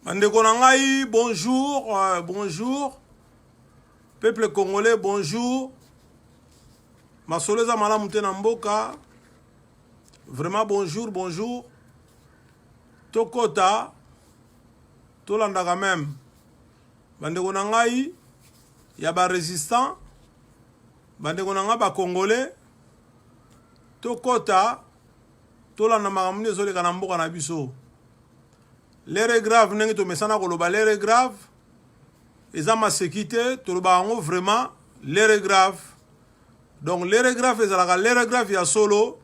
bandeko na ngai bonjour euh, bonjour peuple congolais bonjour masolo eza malamu te na mboka vraiment bonjour bonjour tokota tolandaka meme bandeko na ngai ya barésistant bandeko na ngai bacongolais tokota tolanda makambo nde ezoleka na mboka na biso lere grave ndenge tomesana koloba lere grave eza maseki te tolobaka yango vraiment lere grave donc lere grave ezalaka lere grave ya solo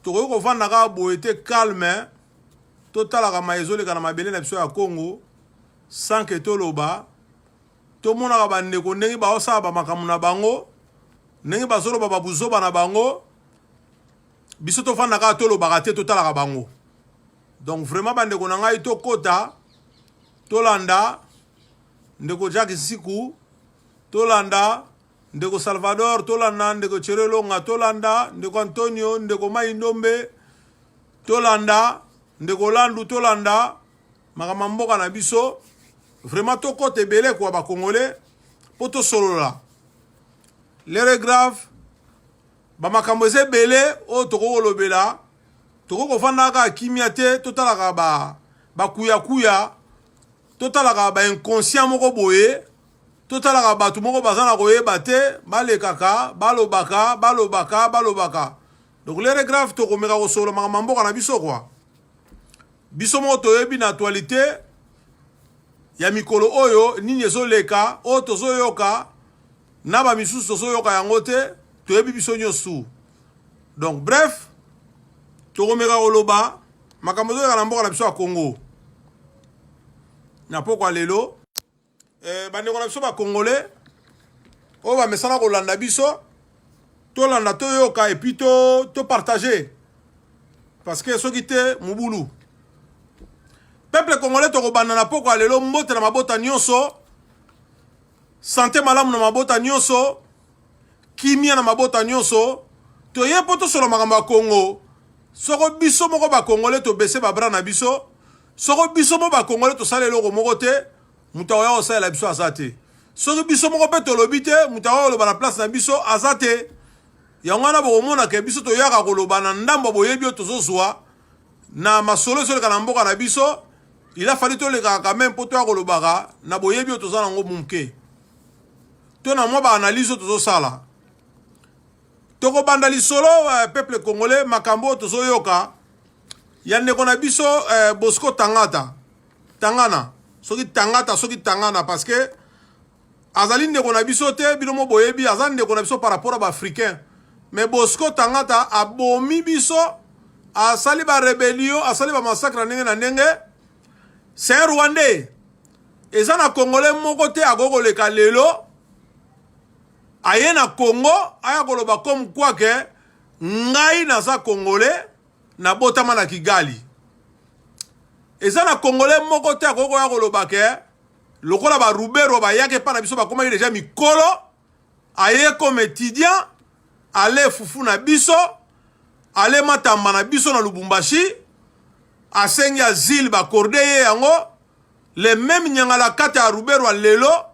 tokoki kovanda kaka boye te calme totalaka maye ezoleka na mabele na biso ya congo sans ke toloba tomonaka bandeko ndenge baosala bamakambo na bango ndenge bazoloba babuzoba na bango biso tofanda kaka tolobaka te totalaka bango donc vraiment bandeko na ngai tokota tolanda ndeko jacke nsiku tolanda ndeko salvador tolanda ndeko cherelonga tolanda ndeko antonio ndeko mai ndombe tolanda ndeko landu tolanda makambo ya mboka na biso vraiment tokota ebele kwa bakongole mpo tosolola lere grave bamakambo eza ebele oyo tokoki kolobela tokoki kofanda kaka kimia te totalaka ba bakuyakuya totalaka bainconscient moko boye totalaka bato moko baza na koyeba te balekaka balobaka balobaka balobaka donc lere grave tokomeka kosolola makambo ya mboka na biso kwa Biso moko toyebi na actualite ya mikolo oyo nini ezoleka oyo tozoyoka na bamisusu tozoyoka yango te toyebi biso nyonso donc bref tokomeka koloba makambo ezoleka na mboka na biso ya congo na pokwa lelo Eh, bandeko na biso bacongolais oyo bamesana kolanda biso tolanda toyoka epuis topartage to parce que soki te mobulu peuple congolais tokobanda na pokwa lelo mbote na mabota nyonso sante malamu na mabota nyonso kimia na mabota nyonso toye mpo tosolo makambo ya kongo soko biso moko bakongole tobese babra na biso soko biso mo bakongole tosala eloko moko te moto akoya kosalela biso aza te soki biso moko mpe tolobi te moto akoya koloba na place na biso aza te yango wana bokomonaka biso toyaka koloba na ndambo boyebi oyo tozozwa na masolo ezoleka na mboka na biso il a fallu tolekaka quand même mpo toya kolobaka na boyebi oyo toza nango moke to na mwa baanalyse oyo tozosala tokobanda lisolo uh, peuple congolais makambo oyo tozoyoka ya ndeko na biso eh, bosco tangata tangana soki tangata soki tangana parce que azali ndeko na biso te bino mo boyebi aza ndeko na biso par rapport ya baafricain mais bosco tangata abomi biso asali barebelio asali bamassacre na ndenge na ndenge se rwandais eza na congolais moko te akoki koleka lelo aye na congo aya koloba comme quoi ke Ngai naza congolais na botama na Kigali. Eza na congolais moko te akoki koya koloba ke lokola ba Rubero bayaki epai na biso bakomaki deja mikolo aye comme étudiant ale fufu na biso ale matamba na biso na Lubumbashi asengi azile bakorde ye yango le meme nyangalakata ya Ruberwa lelo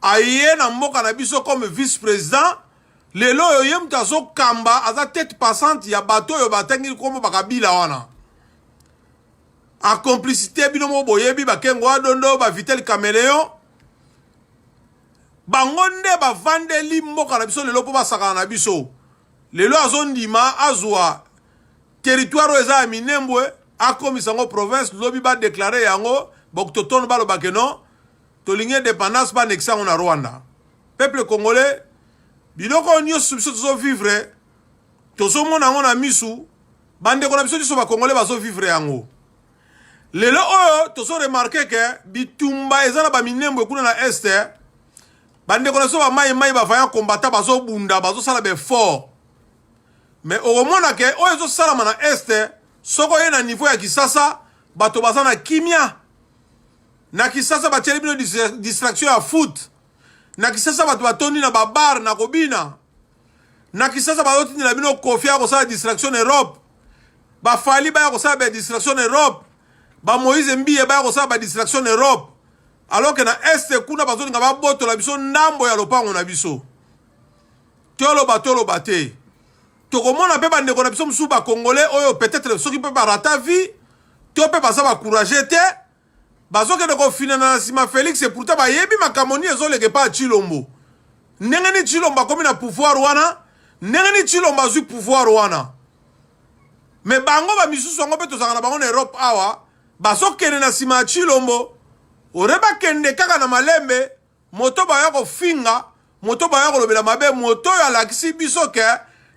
aye na mboka na biso comme vice president lelo oyo ye moto azokamba aza tete passante ya bato oyo batangi nkombo bakabila wana en complicité bino moko boyebi bakengo adondo bavitel cameleon bango nde bavandeli mboka na biso lelo mpo basakana na biso lelo azondima azwa territoire oyo eza ya minembwe akomisa yango province lobi badeklare yango bakutotono balobake non tolingi independance ba annexer yango na Rwanda peuple congolais biloko oyo nyonso biso tozovivre tozomona yango na misu bandeko na biso nyonso bakongole bazovivre yango lelo oyo tozoremarke ke bitumba eza na baminembwe kuna na este bandeko na biso bamai mai bavaillant combattant bazobunda bazosala baeffort mais okomona ke oyo ezosalama na este soko oye na niveau ya kisasa bato baza na kimia Na Kisasa batieli bino distraction ya foot. Na Kisasa bato batondi na ba bar na kobina. Na Kisasa bazotindela bino kofi ya kosala distraction na Europe. Ba Fally baya kosala ba distraction na Europe. Ba Moïse Mbiye baya kosala ba distraction na Europe. Alors que na Est kuna bazolinga babotola biso ndambo ya lopango na biso. Toloba toloba te. Tokomona mpe bandeko na biso mosusu bakongole oyo peut-être soki mpe barata vie to mpe baza bacourage te bazokende kofinana na nsima Felix et pourtant bayebi makambo nini ezoleka epa Chilombo ndenge nini Chilombo akomi na pouvoir wana ndenge nini Chilombo azwi pouvoir wana me bango bamisusu yango mpe tozalaka na bango na Europe awa bazokende na nsima ya Chilombo ore bakende kaka na malembe moto baya kofinga moto baya kolobela mabe moto oyo alakisi biso ke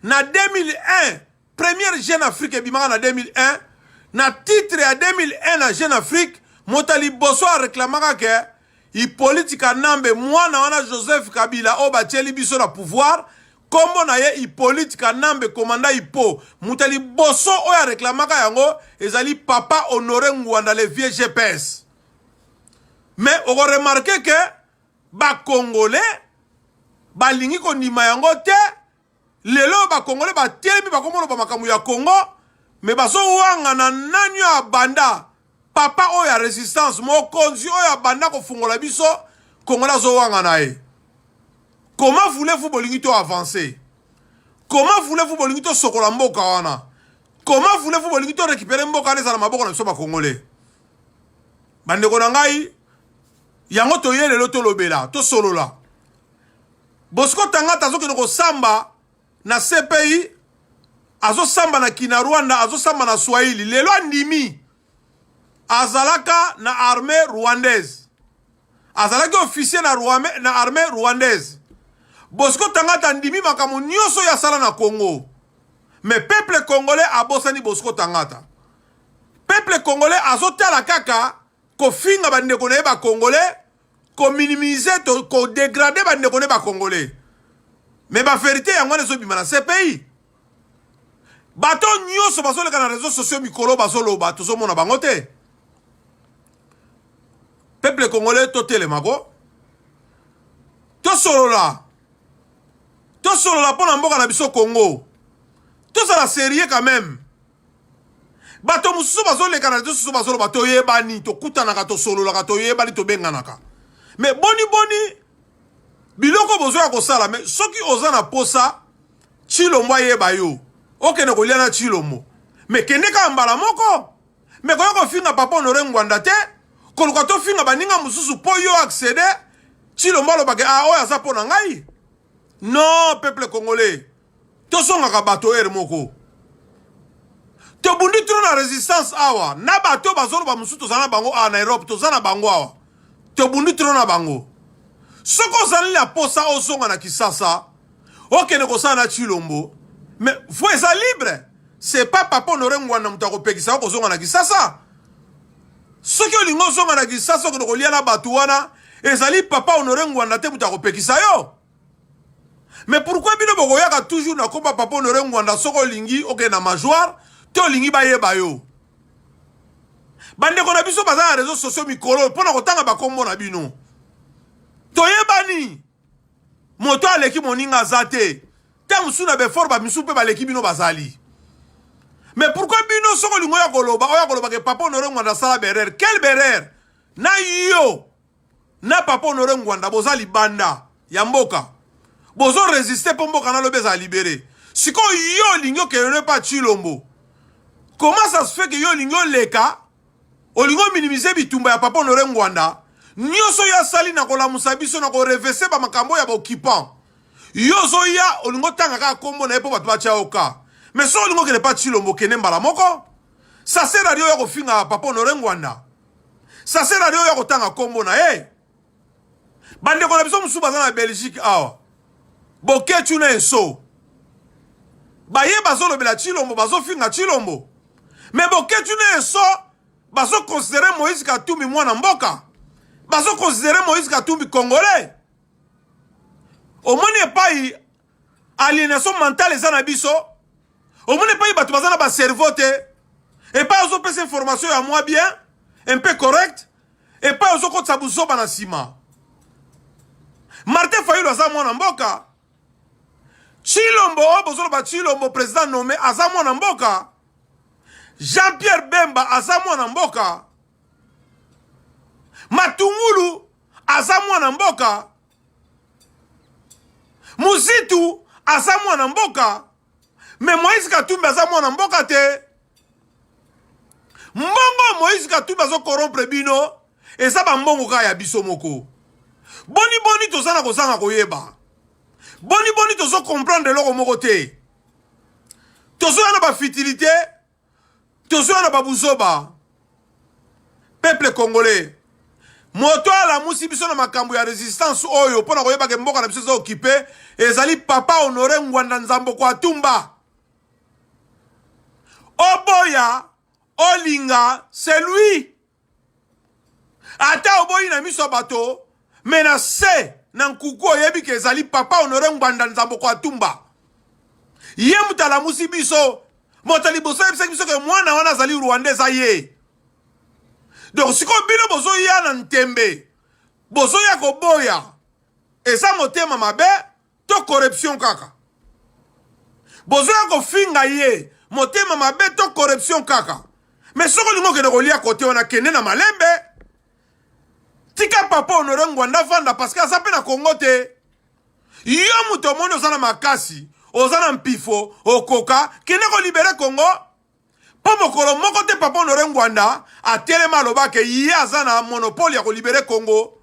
na 2001 Première Jeune Afrique ebimaka na 2001 na titre ya 2001 na Jeune Afrique moto ya liboso areklamaka ke Hippolyte Kanambe mwana wana Joseph Kabila oyo batieli biso na pouvoir nkombo na ye Hippolyte Kanambe komanda Hippo moto ya liboso oyo areklamaka yango ezali papa Honore Ngwanda le vieux GPS mais okoremarke ke bakongole balingi kondima yango te Lelo oyo ba congolais batelemi bakomoloba makambo ya Congo me bazowangana nani oyo abanda papa oyo ya resistance mokonzi oyo abanda kofungola biso congolais azowangana ye comment voulez-vous bolingi to avancer comment voulez-vous bolingi tosokola mboka wana comment voulez-vous bolingi to récupérer mboka wana ezala maboko na biso bacongolais bandeko na ngai yango toye lelo tolobela tosolola Bosco Tangata azokende kosamba na CPI, azosamba na kina Rwanda, azosamba na Swahili. Lelo andimi azalaka na armée rwandaise, azalaki officier na, na armée rwandaise. Bosco Tangata andimi makambo nyonso ya sala na Congo, mais peuple congolais abosani Bosco Tangata. Peuple congolais azotala kaka kofinga bandeko na ye bakongolais kominimize to kodegrade bandeko nde bacongolais me baverité yango wana ezobima na cpi bato nyonso bazoleka na réseau sociaux mikolo bazoloba tozomona bango te peuple congolais totelemako tosolola tosolola mpo na mboka na biso congo tozala serie quand même bato mosusu bazolekana te susu bazoloba toyebani tokutanaka tosololaka toyebani tobenganaka me boniboni biloko bozo ya kosala me soki oza na posa chilombo ayeba yo okende kolia na chilombo me kende kaka mbala moko me koya kofinga papa honore ngwanda te koluka tofinga baninga mosusu mpo yo accede chilombo alobaka a ah, oyo aza mpo na ngai non peuple congolais tozongaka bato heure moko tobundi tro na resistance awa na bato bazoloba mosusu toza na bango awa na europe toza na bango awa tobundi tro na bango soki ozali na posa ozonga na kisasa okende kosala na chilombo me vo eza libre se pa papa honore ngwanda moto akopekisa yo kozonga na kisasa soki olingi ozonga na kisasa okende kolia na bato wana ezali papa honore ngwanda te moto akopekisa yo Mais pourquoi bino bokoyaka toujours na komba papa honore ngwanda soki olingi okende na majoire to olingi bayeba yo bandeko na biso baza na réseau sociaux mikolo mpo na kotanga bakombo na bino toyebani moto aleki moninga aza te ntango mosusu na befort bamisusu mpe baleki bino bazali mais pourquoi bino soki olingi oya koloba oya kolobaka papa honore ngwanda asala berere quel berere na yo na papa honore ngwanda boza libanda ya mboka bozo resiste mpo mboka na lobi ezala libere sikoyo yo olingi okelele mpa chilombo comment ça se fait que yo olingi oleka olingi ominimize bitumba ya papa honore ngwanda nyonso oyo asali na kolamusa biso na korevese bamakambo ya baoccupant yo ozoya olingi otanga kaka nkombo na ye mpo bato batya yo ka mais soki olingi okende mpa chilombo kende mbala moko sasera lio ya kofinga papa honore ngwanda sase na yo ya kotanga nkombo na ye bandeko na biso mosusu baza na belgique awa bokecu na enso baye bazolobela chilombo bazofinga chilombo me bokecu na enso bazokonsidere moïse katumbi mwana mboka bazokonsidere moïse katumbi congolais omoni epai alienation mentale eza na biso omoni epai bato baza na bacerveau te epai ozopesa information ya mwa bien un peu correct epai ozokotisa buzoba na nsima martin fayulu aza mwana mboka chilombo oyo bozoloba chilombo president nome aza mwana mboka jean pierre bemba aza mwana mboka matungulu aza mwana mboka Muzitu aza mwana mboka me Moïse Katumbi aza mwana mboka te mbongo Moïse Katumbi azo corrompre bino eza bambongo kaka ya biso moko boni boni toza na kozanga koyeba boni boni tozo comprendre eloko moko te tozoya na bafitilité Tozwa na babuzoba. Peuple congolais. Moto alamusi biso na makambo ya resistance oyo mpo na koyeba ke mboka na biso eza okipe ezali papa honore ngwanda nzambo kwa tumba oboya olinga c'est lui ata oboyi na miso ya bato me na se na nkuku oyebi ke ezali papa honore ngbanda nzamboko atumba ye moto alamusi biso moto liboso ayebisaki biso ke mwana wana azali rwanda eza ye donc sikoyo bino bozoya na ntembe bozoya koboya eza motema mabe To corruption kaka. Bozoya kofinga ye motema mabe to corruption kaka. Mais soki olingi okende kolia kote wana kende na malembe. Tika papa Honore Ngwanda vanda parce que aza mpe na Congo te. Yo moto omoni oza na makasi, oza na mpifo, okoka, kende kolibere Congo. Mpo mokolo moko te Papa Honore Ngwanda atelema aloba ke ye aza na monopole ya kolibere Congo.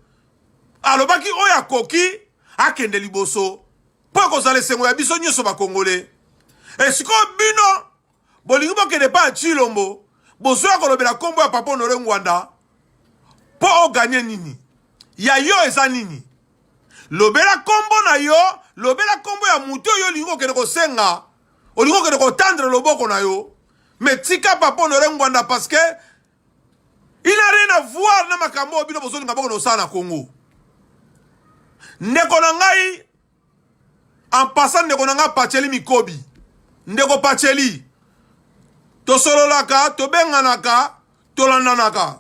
Alobaki oyo akoki akende liboso mpo ekozala esengo ya biso nyonso bakongole. Esikoyo bino bolingi bokende epai ya Tshilombo bozoya kolobela nkombo ya Papa Honore Ngwanda mpo oganye nini? Ya yo eza nini? Lobela nkombo na yo, lobela nkombo ya moto oyo olingi kokende kosenga olingi okende kotandre loboko na yo me tika papa honore ngwanda parce que il a rien à voir na makambo oyo bino bozolinga boko na osala na congo ndeko na ngai en passant ndeko na ngai pacheli mikobi ndeko pacheli tosololaka tobenganaka tolandanaka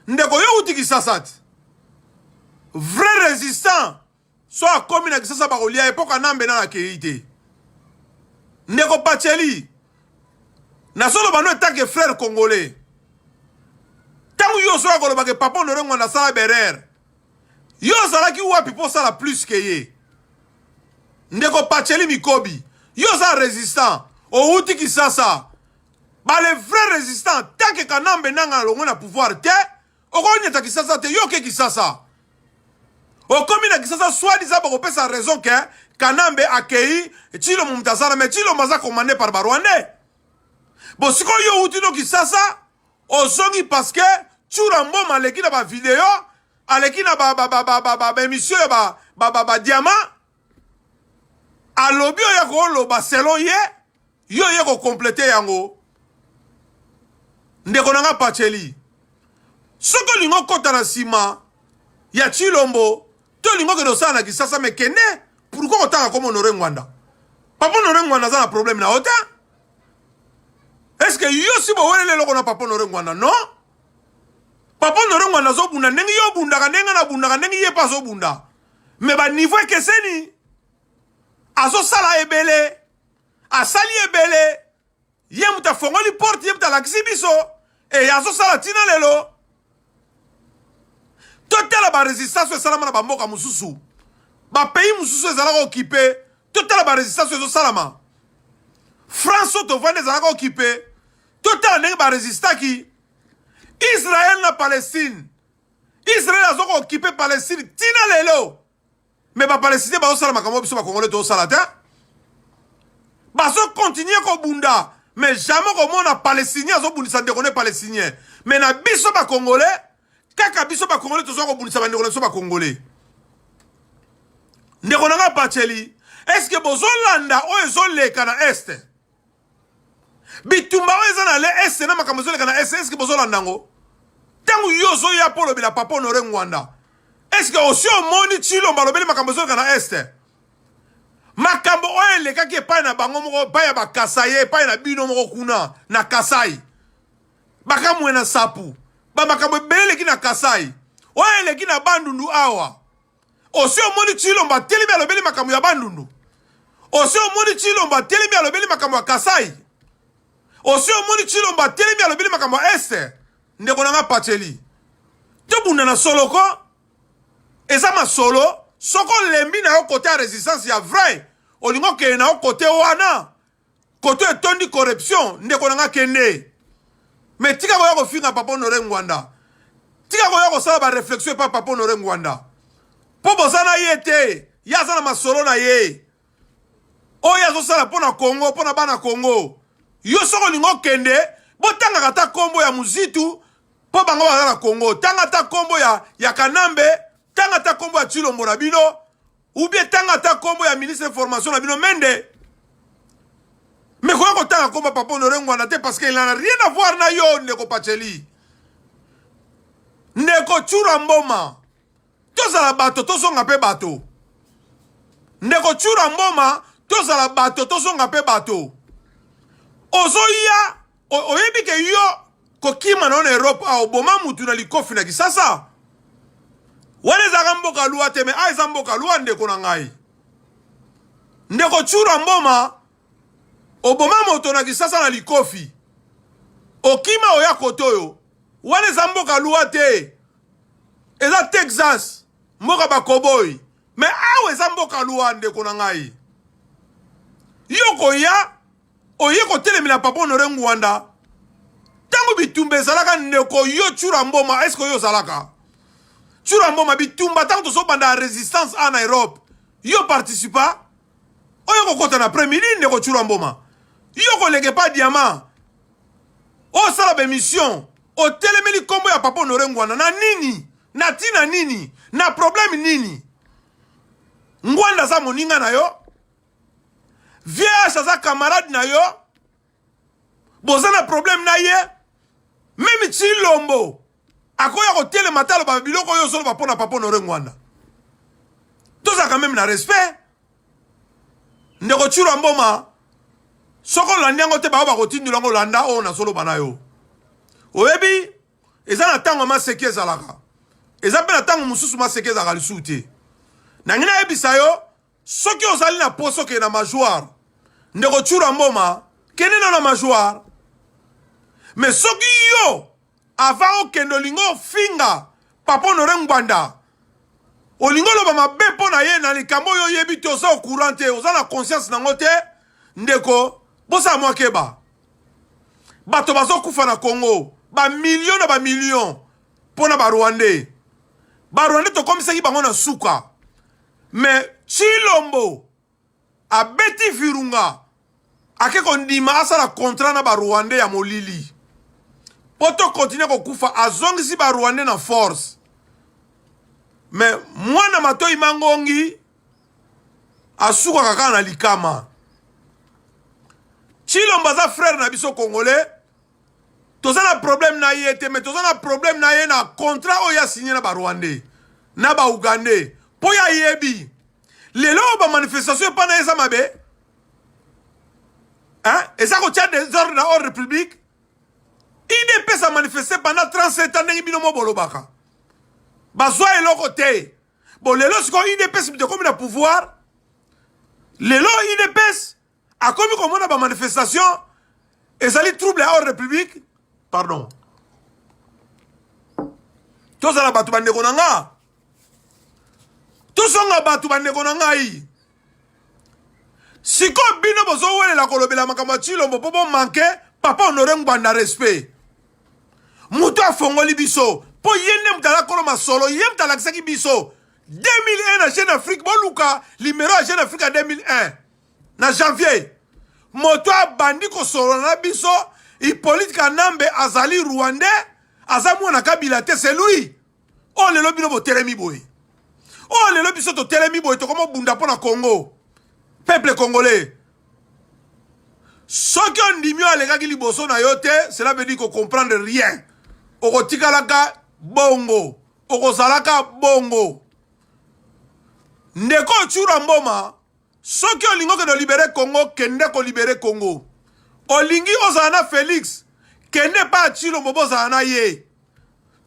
ndeko yo uti kisasa ti vrai résistant so akomi na kisasa bakolia ye po kanambe nana akei te ndeko paceli nazoloba no etanke frère congolais ntango yo ozoya koloba ke papa honore ngwanda asala berere yo ozalaki wapi mpo osala plus ke ye ndeko paceli mikobi yo oza résistant owuti kisasa bale vrai résistant tanke kanambe nanga alongwe na pouvoir te okonyata kisasa te yo oke kisasa okomi na kisasa swadisa bakopesa raison ke kanambe akei cilombo moto aza na me cilombo aza commande par barwandais bo sikoyo yo outi no kisasa ozongi parceke cura mboma aleki na bavideo aleki na baemission ya badiama alobi oyo akoloba selon ye yo oye kocomplete yango ndeko na nga paceli soki olingi okota na nsima ya chilombo to olingi okende osala na kisasa me kende pourkui kotanga koma honore ngwanda papa honore ngwanda aza na probleme na yo te eske yo si boweleli eloko na papa honore ngwanda non papa honore ngwanda azobunda ndenge yo obundaka ndenge nabundaka ndenge ye mpe azobunda me baniveau ekeseni azosala ebele asali ebele ye moto afongoli porte ye moto alakisi biso eye azosala ntina lelo totala baresistance oyo esalama na bamboka mosusu bapays mosusu ezalaka okipe totala baresistance oyo ezosalama france oyo tovandi ezalaka okipe totala ndenge baresistaki israel na palestine Israel azo ko occuper Palestine tina lelo. Mais ba Palestiniens bazo sala makambo biso ba Congolais to sala te. Bazo continuer ko bunda. Mais jamais ko mona Palestinien azo bundisa ndeko ne Palestinien. Mais na biso ba Congolais kaka biso ba Congolais tozo ko bundisa ba ndeko na biso ba Congolais. Ndeko na nga Bacheli, est-ce que bozo landa oyo ezo leka na Est? bitumba oyo eza na le este na makambo ezoleka na este eske bozolanda yango ntango yo ozoya mpo olobela papa honore ngwanda eske osi omoni chilomba alobeli makambo ezoleka na este makambo oyo elekaki epai na bango moko epai ya bakasai epai na bino moko kuna na kasai bakamwe na sapu bamakambo ebele eleki na kasai oyo eleki na bandundu awa osi omoni tshilombo atelemi alobeli makambo ya bandundu osi omoni tshilombo atelemi alobeli makambo ya kasai osi omoni tshilombo atelemi alobeli makambo ya este ndeko na nga pacheli tobunda na solo ko eza masolo soki olembi na yo kote ya resistance ya vrai olingi okende na yo kote wana Koto etondi corruption ndeko na nga kende mais tika koya kofinga papa honore ngwanda tika koya kosala ba reflexion epa papa honore ngwanda mpo boza na ye te ye aza na masolo na ye oyo azosala mpo na congo mpo na bana congo yo soki olingi okende botangaka ata nkombo ya muzitu mpo bango baza na congo tanga ata nkombo ya, ya kanambe tanga ata nkombo ya tshilombo na bino ou bien tanga ata kombo ya ministre information na bino mende mais koya kotanga kombo papa honore ngwana te parce que il en a rien à voir na yo ndeko pacheli ndeko tshura mboma tozala bato tozonga mpe bato ndeko tshura mboma tozala bato tozonga mpe bato ozoya oyebi ke yo kokima na yo na europe awa oboma mutu na likofi na kisasa wana ezalaka mboka lua te me a eza mboka lua ndeko na ngai ndeko tshura mboma oboma moto na kisasa na likofi okima oya kote oyo wana eza mboka lua te eza texas mboka bakoboi me awa eza mboka lua ndeko na ngai yo koya oye kotelemela papa honore ngwanda ntango bitumba ezalaka ndeko yo cura mboma eske oyo ozalaka cura mboma bitumba ntango tozobanda resistance a na europe yo participa oyo kokota na premier nini ndeko cura mboma yo koleke pa diama osala bemission otelemeli nkombo ya papa honore ngwanda na nini na ntina nini na probleme nini ngwanda aza moninga na yo vieas aza camarade na yo boza na problème na ye meme tshilombo akoya kotelema te aloba biloko oyo ozoloba mpo na papa honore ngwanda tozalaka meme na respect ndeko tshilwa mboma soki olandi yango te bayo bakotindola yango olanda oyo nazoloba na yo oyebi eza na ntango maseki ezalaka eza mpe na ntango mosusu maseki ezalaka lisusu te nangi nayebisa yo soki ozali na poso ke na majoire ndeko chura mboma kende na na majoire me soki yo ava okende olingi ofinga papa honore ngbanda olingi oloba mabe mpo na ye na likambo oyo oyebi te oza ocourant te oza na conscience nango te ndeko bosala mwa keba bato bazokufa na congo bamilio na bamilio mpo na barwandais barwandais tokomisaki bango na suka Mais Chilombo abeti virunga ake kondima asala contrat na ba Rwandais ya molili po to continuer kokufa azongisi ba Rwandais na force mais mwana matoi mangongi asukaka kaka na likama Chilombo aza frère na biso congolais toza na problème na ye te mais toza na problème na ye na contrat oyo asigne na barwandais na baougandais mpo ye ayebi lelo oyo bamanifestation epai na ye eza mabe eza kotya desordre na ordre public idps amanifeste pendant 37 ans ndenge bino mo bolobaka bazwa eloko te bo lelo sikoyo idps moto ekomi na pouvoir lelo idps akomi komona ba manifestation ezali trouble ya ordre public pardon tozala bato bandeko na nga tozonga bato bandeko na ngai sikoyo bino bozowelela kolobela makambo ya cilombo mpo bomanke papa honore ngbanda respect moto afongoli biso mpo ye nde moto alakolo masolo ye moto alakisaki biso 2001 na jeune afrique boluka limero ya jeune afrique ya 2001 na janvier moto abandi kosolola na biso Hippolyte Kanambe azali rwandais aza mwana kabila te c'est lui oyo oh, lelo bino botelemi boye oyo oh, lelo biso totelemi boye tokomobunda mpo na congo peuple congolais soki ondimi oyo alekaki liboso na yo te cela veut dire kocomprendre rien okotikalaka bongo okozalaka bongo ndeko ocura mboma Soki olingi okende olibere Congo, kende kolibere Congo. Olingi ozala na Felix, kende epai ya Tshilombo bozala na ye.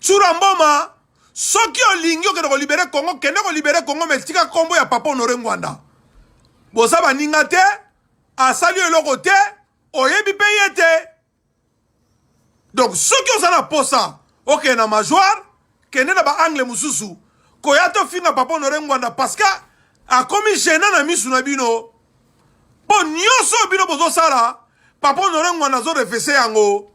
Tsura Mboma, soki olingi okende kolibere Congo, kende kolibere Congo, me tika kombo ya Papa Honore Ngwanda. Boza baninga te, asali eloko te, oyebi pe ye te. donc soki oza na posa okende na majoire kende na baangle mosusu koya tofinga papa honore ngwanda parce que akomi gena na misu na bino mpo nyonso oyo bino bozosala papa honore ngwanda azorefese yango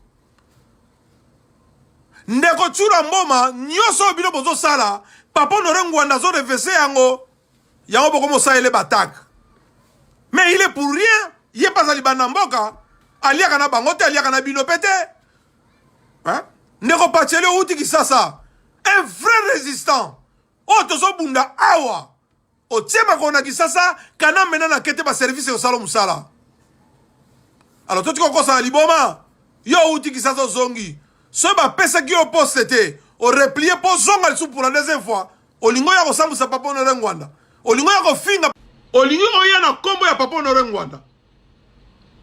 ndeko cura mboma nyonso oyo bino bozosala papa honore ngwanda azorefese yango yango boko mosalele batake mais il est pour rien ye mpe azali banda mboka aliaka na bango te aliaka na bino mpe te ndeko paceli outi kisasa un vrai résistant oyo tozobunda awa otie makolo na kisasa kana mena na kete baservice ekosala mosala alors totika okosana liboma yo outi kisasa ozongi soki bapesaki yo poste te oreplie mpo ozonga lisusu pour la deuxième fois Olingi oya kosambwisa Papa Honore Ngwanda? Olingi oya kofinga? Olingi oya na nkombo ya Papa Honore Ngwanda?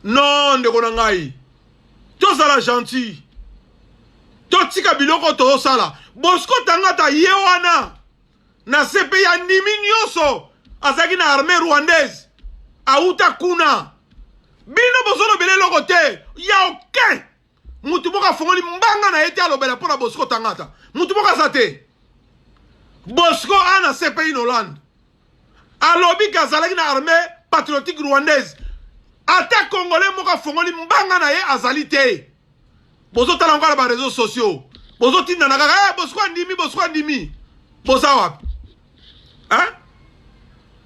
Non, ndeko na ngai, tozala gentil, totika biloko tozosala. Bosco Tangata ye wana na CPI andimi nyonso, azalaki na armée rwandaise, awuta kuna. Bino bozolobela eloko te ya aucun mutu moko afongoli mbanga na ye te alobela mpo na bosco tangata mutu moko aza te bosco ana cpi na hollande alobi ke azalaki na armée patriotique rwandaise ata congolais moko afongoli mbanga na ye azali te bozotala yango na bareseau sociaux bozotindana kaka hey, eh, bosco andimi bosco andimi boza wapi hein?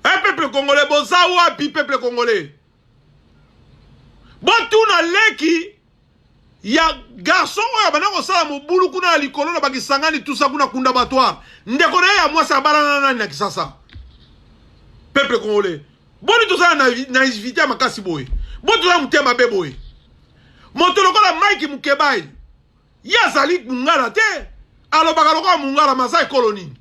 hey, eh, peuple congolais boza wapi peuple congolais botuna leki ya garçon oyo abanda kosala mobulu kuna ya likolo na bakisangani tusa kuna kunda batoire ndeko na ye ya mwasi abalana nani na kisasa peuple congolais boni tozala na naivité ya makasi boye boni tozala motema mabe boye moto lokola mike mukebayi Ye azali mungala te. Alobaka lokola mungala mais aza ekolo nini?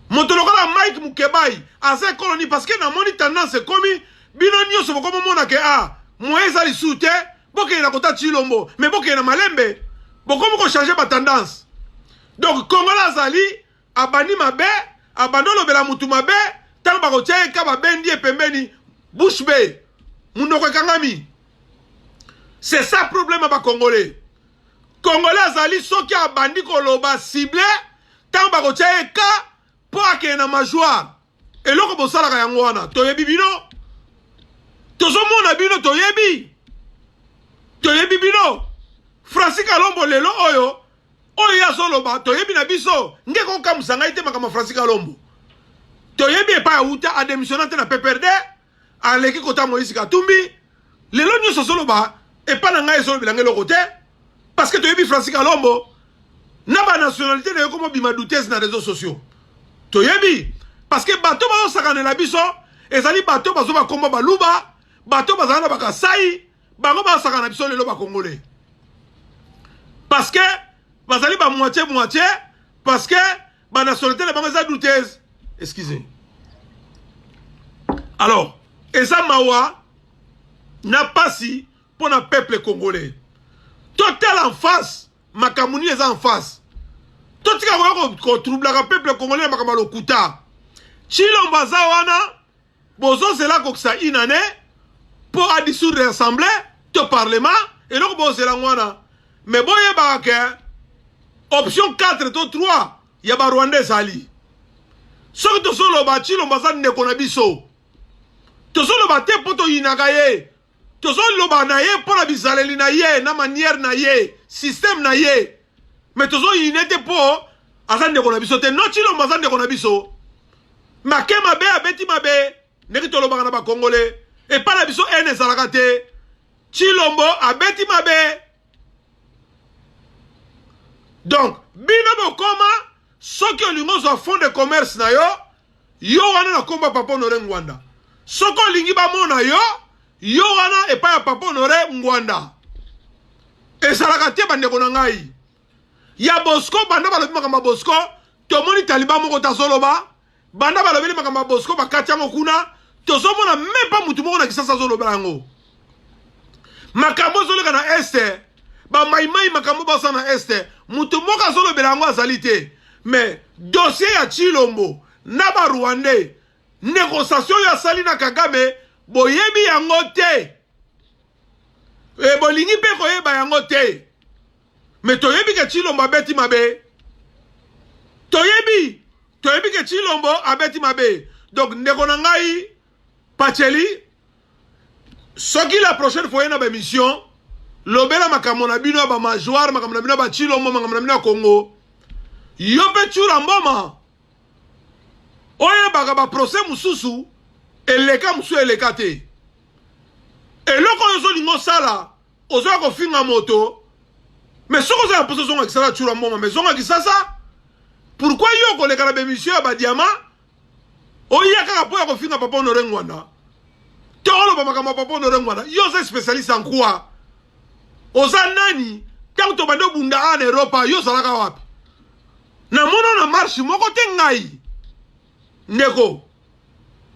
Moto lokola Mike Mukebayi aza ekolo nini? Parce que namoni tendance ekomi bino nyonso bokomi mona ke ah moyen eza lisusu te bokende na kota Tshilombo mais bokende na malembe bokomi ko changer ba tendance donc Congolais azali abandi mabe abandi olobela mutu mabe ntango bakotya ye ka babendi ye pembeni bouche be munoko ekangami c'est ça problème ya bacongolais congolais azali soki abandi koloba cible ntango bakotya ye ka mpo akende na majoire eloko bosalaka yango wana toyebi bino tozomona bino toyebi toyebi bino franci kalombo lelo oyo oyo ye azoloba toyebi na biso nge kokamwisa ngai te makambo ya franci kalombo toyebi epai awuta ademissiona te na pprd aleki kota moïse katumbi lelo nyonso azoloba epai na ngai ezolobela ngai eloko te parce que toyebi francis kalombo na banationalité na yo komobima doutese na réseau sociaux toyebi parce que bato bazosakanela biso ezali bato bazo bakombo baluba bato bazala na bakasai bango bazosaka na biso lelo bakongole parce que bazali bamoitie moitie parce que ba nationalité na bango eza douteuse excusez alors eza mawa na pasi mpo na peuple congolais totala en face makambo nini eza en face totika koya kotroublaka peuple congolais na makambo ya lokuta chilombo aza wana bozo zela akokisa une année po a dissoudre assemblée to parlement eloko bozela yango wana mais boyebaka ke option 4 to 3 ya barwanda ezali soki tozoloba tshilombo aza ndeko na biso tozoloba te mpo toyinaka ye tozoloba na ye mpo na bizaleli na ye na manière na ye système na ye me tozo yine te po aza ndeko na biso te no chilombo aza ndeko na biso make mabe abeti mabe ndenge tolobaka na bakongole epai na biso ene ezalaka te chilombo abeti mabe donc bino bokoma soki olingi ozwa fond de commerce na yo Yo wana na kombo ya Papa Honore Ngwanda. Soki olingi bamona yo, yo wana epai ya Papa Honore Ngwanda. Ezalaka te bandeko na ngai. Ya Bosco banda balobi makambo ya Bosco, tomoni taliban moko tazoloba, banda balobeli makambo ya Bosco bakati yango kuna, tozomona mepa motu moko na Kisasa azolobela yango. makambo ozoleka na este bamaimai makambo baza na este moto moko azolobela yango azali te me dosie ya chilombo na barwandais negociation oyo asali na kagame boyebi yango te e bolingi mpe koyeba yango te me toyebi ke chilombo abeti mabe toyebi toyebi ke chilombo abeti mabe donc ndeko na ngai Pacheli, soki la prochaine fois na ba émission, lobela makambo na bino ya ba majoire, makambo na bino ya ba Chilombo, makambo na bino ya Congo. Yo mpe Tshura Mboma, oyebaka ba procès mosusu eleka mosusu eleka te. Eloko oyo ozolinga osala, ozoya kofinga moto, mais soki oza na mposa ozonga kisasa Tshura Mboma, mais zonga kisasa. Pourquoi yo koleka na ba émission ya ba diamant oya kaka mpo ya kofinga papa honore ngwanda to oloba makambo ya papa honore ngwanda yo oza spécialiste en quoi oza nani ntango tobandi obunda awa na eropa yo ozalaka wapi namona na marshe moko te ngai ndeko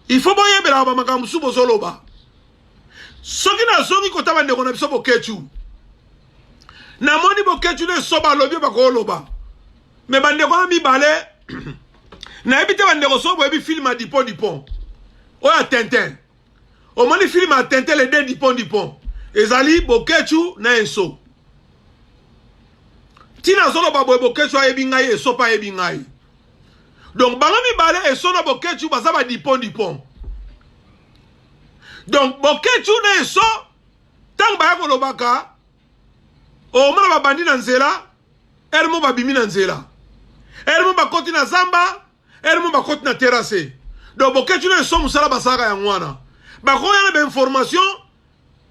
il faut boyebelaka bamakambo mosusu bozoloba soki nazongi kota bandeko na biso boketshu namoni boketshu ne so balobi bakoloba me bandeko wana mibale nayebi te bandeko so boyebi filme ya dipon dipon oyo ya tintin omoni filme ya tintin le de dipon dipon ezali boketshu na enso ntina azoloba boye boketshu ayebi ngai eso mpe ayebi ngai donc bango mibale eso na boketshu baza badipon dipon donc boketshu na eso ntango baya kolobaka omona babandi na nzela ere mo babimi na nzela ere mo bakoti na zamba ere mo bakoti na terase donc bokeci na eso mosala basalaka yango wana bakoya na bainformation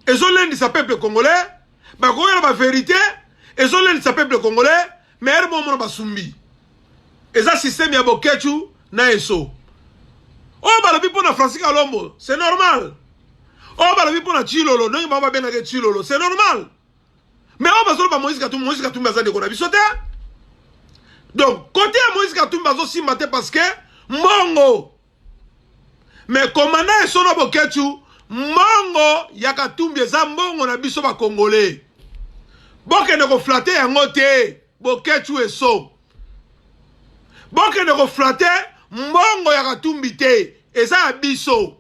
ezolendisa peuple congolais bakoya na baverité ezolendisa peuple congolais Mere bo mona basumbi. Eza système ya Boketshu na Esso. Oyo balobi mpo na Francis Kalombo, c'est normal. Oyo balobi mpo na Tshilolo, ndenge bango babengaka Tshilolo, c'est normal. Mais oyo bazoloba Moïse Katumbi, Moïse Katumbi aza ndeko na biso te. Donc, kote ya Moïse Katumbi azosimba te parce que mbongo Mais commandant Esono Boketshu, mbongo ya Katumbi eza mbongo na biso ba Congolais. Bokende ko flatter yango te, Boketshu Eso. Bokende ko flatter mbongo ya Katumbi te, eza ya biso.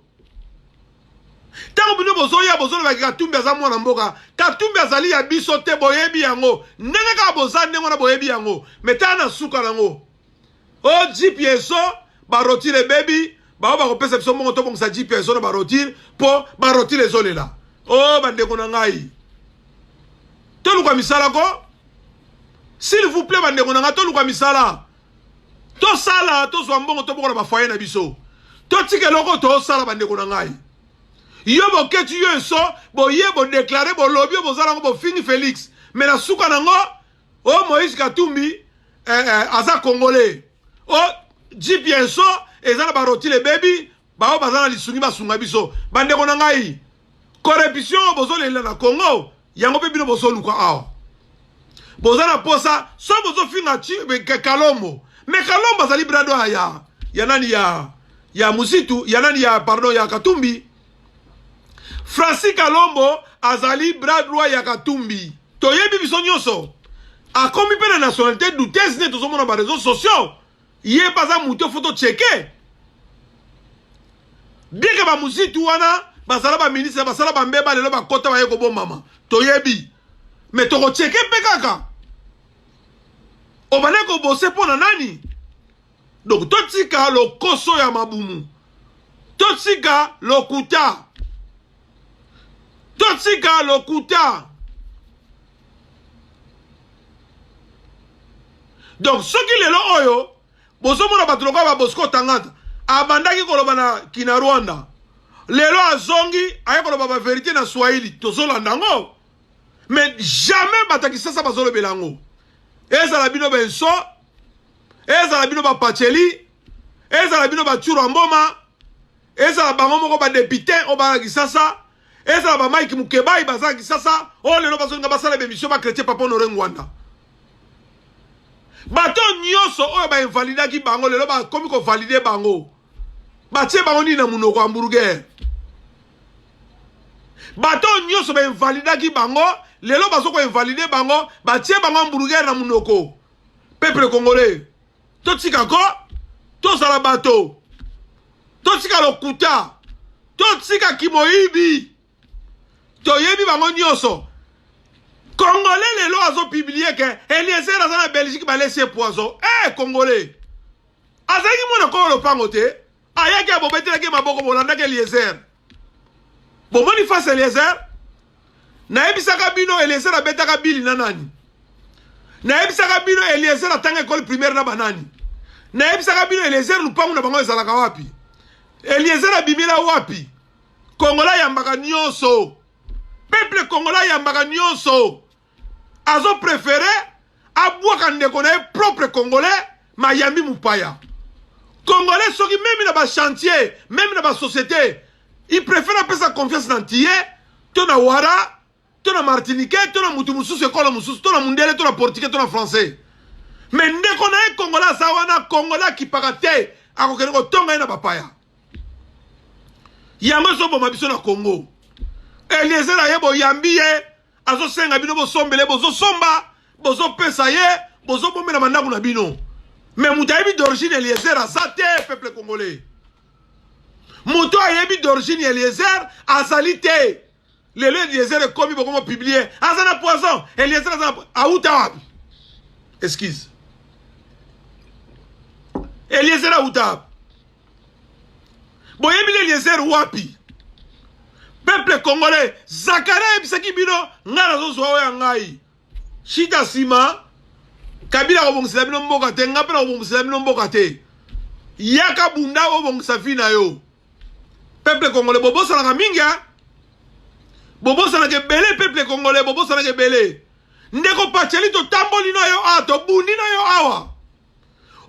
ntango bino bozoya bozolobaki katumbi aza mwana mboka katumbi azali ya biso te boyebi yango ndenge kaka boza ndenge wana boyebi yango metala na suka nango o oh, jeep ya eso barotire ebebi bango bakopesa biso mbongo tobongisa jeep ya eso na barotire mpo barotire ezolela o oh, bandeko na ngai toluka misala ko s'il vous plaît bandeko na ngai toluka misala tosala tozwa mbongo tobokola bafoye na biso totika eloko tosala bandeko na ngai yo boketi yo enso boye bodeklare bolobi oyo bozala yango bofingi félix me na suka na yango oh moïse katumbi eh, eh, aza congolais oh jip ya enso eza na barotile ebebi baoyo baza na lisungi basunga biso bandeko na ngai corruption oyo bozolelela na congo yango mpe bino bozoluka awa boza na posa so bozofinga kalombo me kalombo azali brado ya ya nani ya ya musitu ya nani ya pardon ya katumbi Francis Kalombo azali bras droit ya Katumbi. Toyebi biso nyonso. Akomi mpe na nationalité douteuse nde tozomona ba réseaux sociaux. Ye mpe aza moto foto cheke. Deke ba muzitu wana bazala ba ministre basala ba mbeba lelo bakota baye kobombama. Toyebi. Mais tokocheke mpe kaka. Obale kobose mpo na nani? Donc totika lokoso ya mabumu. Totika lokuta. Totika lokuta. Donc soki lelo oyo bozomona bato lokola babosco tangata abandaki koloba na kina rwanda lelo azongi aye koloba baverité na swahili tozolanda yango mais jamais bato ya kisasa bazolobela yango ezala bino benso ezala bino bapaceli ezala bino bacura mboma ezala bango moko badepute oyo baa kisasa ezala bamike mokebai baza kisasa oyo lelo bazolinga basala bemisio bakretie papa honore ngwanda bato nyonso oyo bainvalidaki bango lelo bakomi kovalide bango batie bango nini na monoko ya hamburger bato nyonso bainvalidaki bango lelo bazo koinvalide bango batie bango hamburger na monoko peuple congolais totika ko tozala bato totika lokuta totika kimoyibi toyebi bango nyonso congolais lelo azopiblie ke eliezer aza na belgique balesi ye poison e eh, hey, congolais azalaki mwana kolo lopango te ayaki abobetelaki maboko bolandaki eliezer bomoni face eliezer nayebisaka bino eliezer abetaka bili na nani nayebisaka bino eliezer atanga ekole primaire na banani nayebisaka bino eliezer lupangu na bango ezalaka wapi eliezer abimila wapi kongola ayambaka nyonso peple kongola ayambaka nyonso azo prefere abwaka ndeko na ye propre congolais mayambi mupaya congolais soki meme na bachantier meme na basociété il prefere apesa confiance na ntiye to na wara to na martiniquais to na mutu mosusu ekolo mosusu to na mundele to na portugais to na français me ndeko na ye kongola aza wana kongola akipaka te akokende kotonga ye na bapaya yango ezoboma biso na kongo eliezer aye boyambi ye azosenga bino bosombele bozosomba bozopesa ye bozobombela bandako na bino me moto ayebi d'origine eliezer aza te peuple congolais moto ayebi d'origine ya eliezer azali te lelo eliezer ekomi bokomo publie aza na poison eliezer aza auta wapi excuse eliezer auta wapi boyebi le eliezer wapi peuple congolais zakari ayebisaki bino ngai nazozwa oyo ya ngai shita nsima kabila akobongisela bino mboka te ngai mpe nakobongisela bino mboka te yaka bunda obongisa vi na yo peuple congolais bobosanaka mingi a bobosanaka ebele peuple congolais bobosanaka ebele ndeko paceli totamboli na yo awa tobundi na yo awa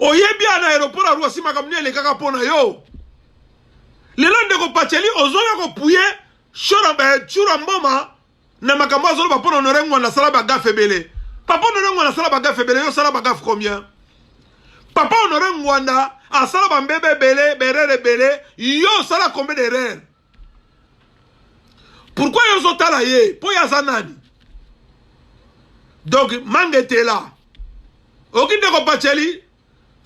oyebi ya na aéroport ya Roissy makambo nini elekaka mpo na yo lelo ndeko Pacheli ozoya kopuye shora eh, chura mboma na makambo azoloba mpo na honore ngwanda asala bagafe ebele papa honore ngwanda asala bagafe ebele yo osala bagafe combien papa honore ngwanda asala bambebe ebele berere ebele yo osala combien d'erreur pourquoi yo ozotala ye mpo ye aza nani donc manga etela oki ndeko baceli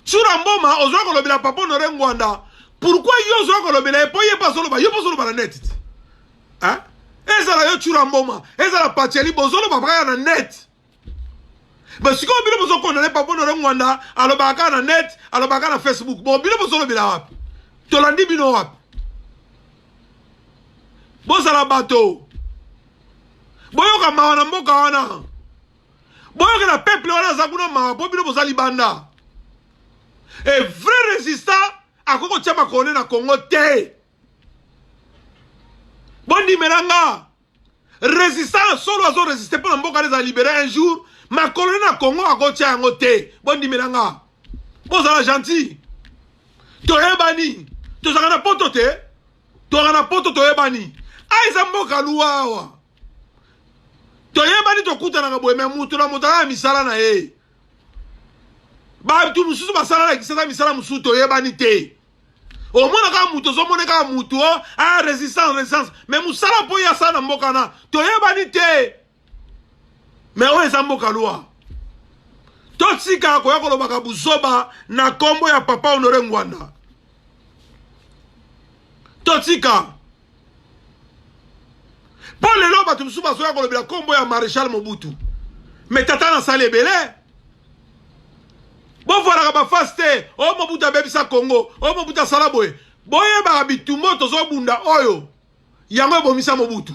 tsura mboma ozoya kolobela papa honore ngwanda pourquoi yo ozoya kolobela ye mpo ye mpe azoloba yo mpe ozoloba na net ti ezala yo tsura mboma ezala paceli bozoloba baya na net ba sikoyo bino bozokondane papa nore ngwanda alobaka kaka na net alobaka kaka na facebook bon bino bozolobela wapi tolandi bino wapi bozala bato boyoka mawa na mboka wana boyokela peuple wana aza kuna mawa mpo bino boza libanda e vrai résistant akoki kotya makolo ne na congo te bondimela nga Resistance solo azo resiste pona mboka na ezala libere un jour makolo na Congo akotia yango te bondimela nga bozala gentil toyebani tozalaka na poto te tozalaka na poto toyebani a eza mboka luwa awa toyebani tokutanaka boye me moto na moto alala misala na ye bato mosusu basala na kisasa misala mosusu toyebani te omona kaka moto ozomona kaka moto a ah, resistance resistance me mosala mpo ye asala na mboka na toyebani te me oyo eza mboka lwa totika koya kolobaka buzoba na nkombo ya papa honore ngwanda totika mpo lelo bato mosusu bazoya kolobela nkombo ya maréchal mobutu me tata nasali ebele bofuanaka bafasi te o oh, mobutu abebisa congo o oh, mobutu asala boye boyebaka bitumbo tozobunda oyo yango ebomisa mobutu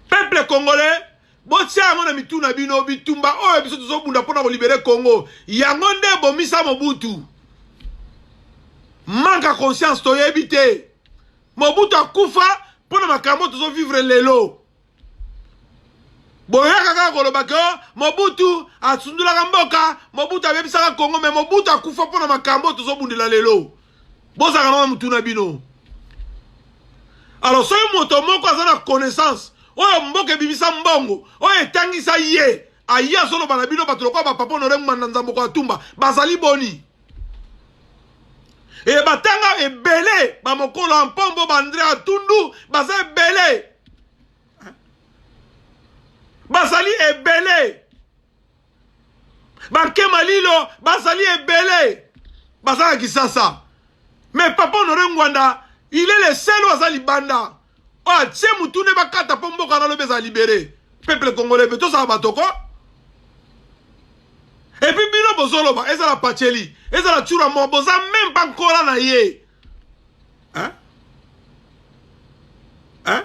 peuple congolais botia yango na mitu na bino bitumba oyo biso tozobunda mpona kolibere congo yango nde ebomisa mobutu manque ya conscience toyebi te mobutu akufa mpo na makambo tozovivre lelo boyaka kaka koloba ke oh, mobutu asundolaka mboka mobutu abebisaka kongo me mobutu akufa mpo na makambo oyo tozobundela lelo bozalaka nao na motu na bino alors soki moto moko aza na connaissance oyo mboka ebimisa mbongo oyo etangisa ye aye azoloba na bino bato lokola bapapa honore ngmanda nzamboko ya tumba bazali boni e batanga ebele bamokolo ya mpombo bandre ya tundu baza ebele bazali ebele bankema lilo bazali ebele baza na kisasa mais papa honore ngwanda il est le seul oyo aza libanda Batie mutu ne bakata mpo mboka na lobi ezala libere. Peuple congolais mpe tozala bato ko. Et puis bino bozoloba ezala Pacheli, ezala Tshura mo boza même pas nkola na ye. Hein? Hein?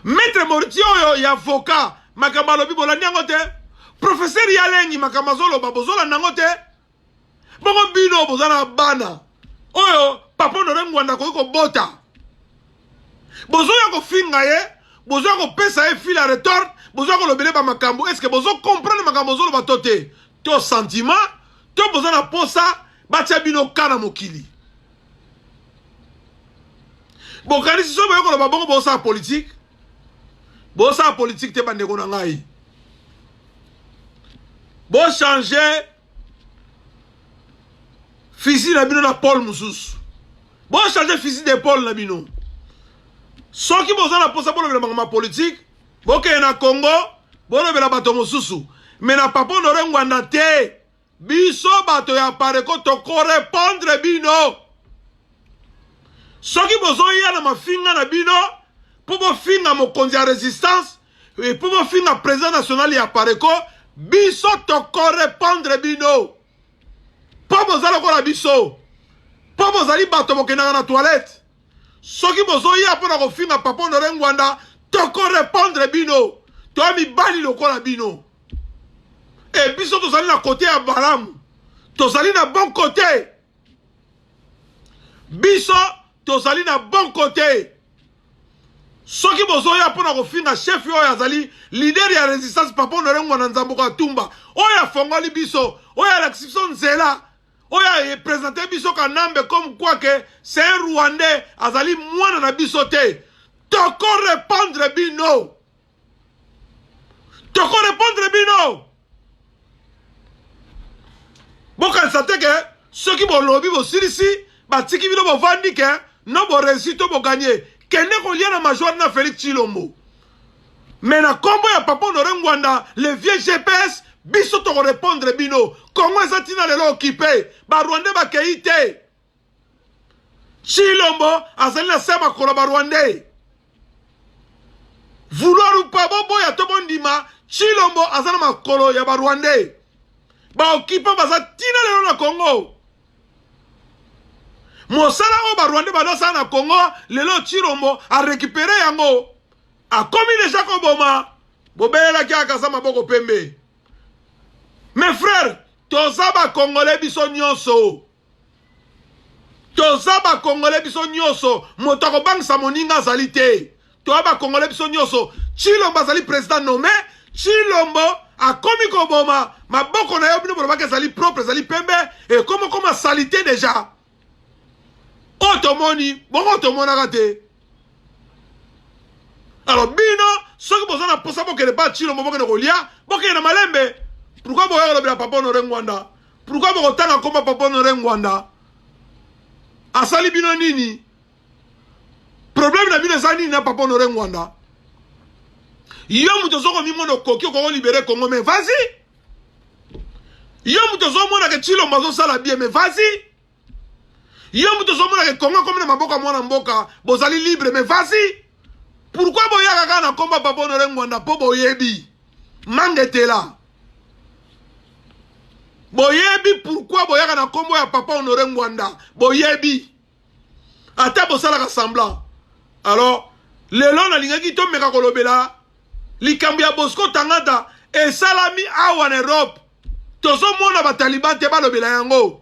Maître Mortier oyo ya avocat makambo alobi bolandi yango te? Professeur Yalengi makambo azoloba bozolanda yango te? bongo bino boza na bana oyo papa honore ngwanda akoki kobota bozoya kofinga ye bozoya kopesa ye fil a retort bozoya kolobele bamakambo estce bozokomprendre makambo bozoloba to te to sentiment to boza na posa batya bino ka na mokili bokanisi soki boye koloba bongo bosala politike bosala politike te bandeko na ngai bochange Fusil na bino na pole mosusu. Bo changer fusil de pole na bino. Soki boza na posa bolobela bango ma politique, bokeye na Congo, bolobela bato mosusu. Mais na Papa Honore Ngwanda te. Biso bato ya Pareko toko repondre bino. Soki bozoya na mafinga na bino mpo bofinga mokonzi ya resistance Et pour finga président national ya Pareco, biso toko répondre bino. Pas boza lokola biso. Pas bozali bato bokendaka na toilette. Soki bozoya mpo na kofinga papa Honore Ngwanda, toko répondre bino. Toya mibali lokola bino. Et biso tozali na kote ya balamu. Tozali na bon kote. Biso tozali na bon kote. soki bozoya mpo na kofinga chef oyo azali lider ya resistance papa honore ngwana nzambuko atumba oyo afongoli biso oyo alakisi biso nzela oyo apresente biso kanambe comme quoi ke c'est un rwandais azali mwana na biso te toko repondre bino toko repondre bino bokanisa te ke soki bolobi bosilisi batiki bino bovandi ke no boresi to boganye kende kolia na major na felix chilombo me na nkombo ya papa honore ngwanda le vieux gps biso tokorepondre bino kongo eza ntina lelo okipe barwandais bakei te Chilombo azali na se ya makolo ba Rwandais. Vouloir ou pas boboya to bondima Chilombo aza na makolo ya ba Rwandais. Ba occupants baza tina lelo na Congo. Mosala oyo ba Rwandais bazosala na Congo lelo Chilombo a récupérer yango. Akomi déjà koboma bobelelaki akaza maboko pembe. Mes frères, toza ba Congolais biso nyonso. toza bakongole biso nyonso moto akobangisa moninga azali te toya bakongole biso nyonso chilombo azali president nome chilombo akomi koboma maboko na yo bino bolobaki ezali propre ezali pembe ekomi okoma salite deja oyo tomoni bongo tomonaka te alors bino soki boza na mposa bokende ba chilombo bokende kolia bokende na malembe pourkui boya kolobela papa honore ngwanda Pourquoi bokotanga nkoma Papa Honore Ngwanda asali bino nini? Problème na bino eza nini na Papa Honore Ngwanda? Yo moto ozo komimona okoki okoko libere Congo mais vas-y. Yo moto ozo mona ke Tshilombo azosala bien mais vas-y. yo moto ozomona ke kongo ekomi na maboko ya mwana mboka bozali libre mais vasi pourkui boyaka kaka na nkombo ya papa honore ngwanda mpo boyebi mangetela boyebi pourkui boyaka na nkombo ya papa honore ngwanda boyebi ata bosalaka semblant alors lelo nalingaki tomeka kolobela likambo ya bosco tangata esalami awa na europe tozomona bataliban te balobela yango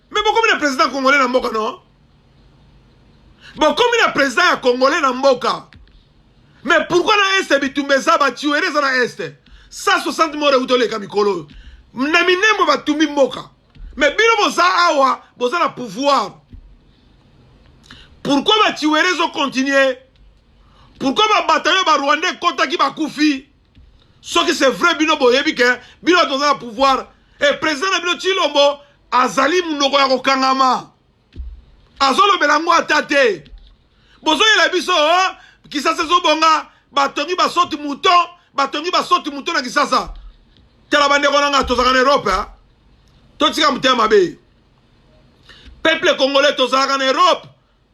Mais bokomi na président congolais na mboka non bokomi na président ya congolais na mboka mais pourquoi na este bitumba eza batuere eza na este 160 mort euti oleka mikolo oyo na minembo batumbi mboka mais bino boza awa boza na pouvoir pourquoi batuere ezocontinue pourquoi babatayo barwanda ekotaki bakufi soki c'est vrai bino boyebi ke bino bato boza na pouvoir e président na bino tshilombo azali monoko ya kokangama azolobela yango ata te bozoyela biso oh, kisasa ezobonga batongi basoti moto batongi basoti moto na kisasa tala bandeko na ngai tozalaka na europe eh? totika motema mabe peuple congolais tozalaka na europe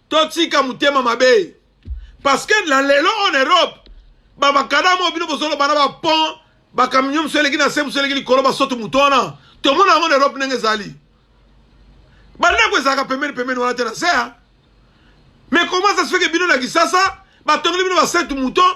totika motema mabe parce que na lelo en europe bamakadama oyo bino bozoloba na bapont bakamio mosu eleki na se mosu eleki likolo basoto moto wana tomona yango na europe ndenge ezali bandako ezalaka pembeni pembeni wana te na se mais comment ça se fait que bino na kisasa batongeli bino basainte mouton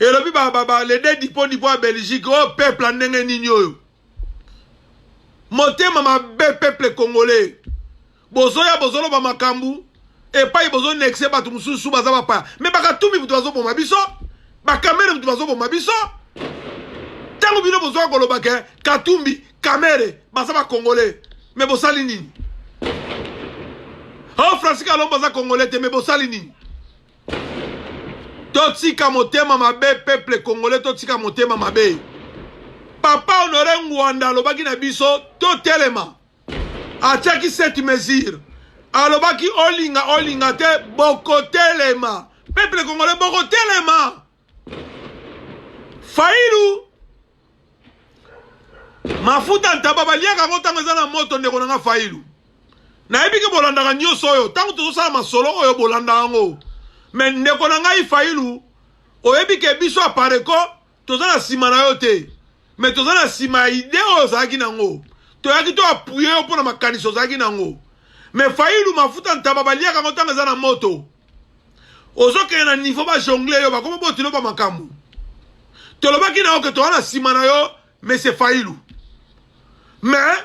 elobi ba ba ba les deux dipo dipo ya Belgique oh peuple ndenge nini oyo motema mabe peuple congolais bozoya bozoloba makambu epai bozo nexe bato mosusu baza bapaya me bakatumbi moto bazoboma biso bakamere moto bazoboma biso ntango bino bozoka koloba ke katumbi kamere baza bakongole me bosali nini o oh, francis kalombo aza kongole te me bosali nini totika motema mabe peuple congolais totika motema mabe papa honore ngwanda alobaki na biso totelema atiaki cette mesure alobaki olinga olinga te bokotelema peuple congolais bokotelema Failu mafuta ntaba baliaka yango ntango eza na moto ndeko na nga failu nayebi ke bolandaka nyonso oyo ntango tozosala masolo oyo bolanda yango me ndeko na ngai failu oyebi ke biso apareko toza na nsima na yo te me toza na nsima ya ide oyo ozalaki nango toyaki to apuye yo mpo na makanisi ozalaki nango me failu mafuta ntaba baliaka yango ntango eza na moto ozokende na niveau ba jongle yo bakoma botilo ba makambo tolobaki na yo ke toza na nsima na yo monsieur fayilu mais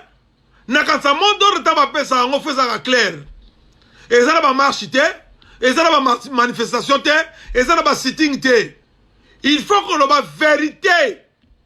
nakanisa mot d'ordre ntango bapesa yango fo ezalaka claire eza na bamarche te eza na bamanifestation te eza na basitting te il faut koloba verité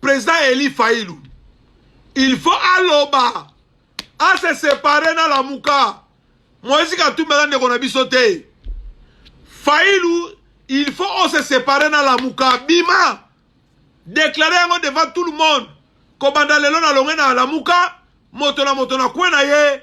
President Eli Fayulu, il faut aloba, a se séparer na Lamuka. Moïse Katumbi aza ndeko na biso te. Fayulu, il faut on se séparer na Lamuka. Bima, déclarer yango devant tout le monde. Kobanda lelo na longue na Lamuka, moto na moto na kwe na ye.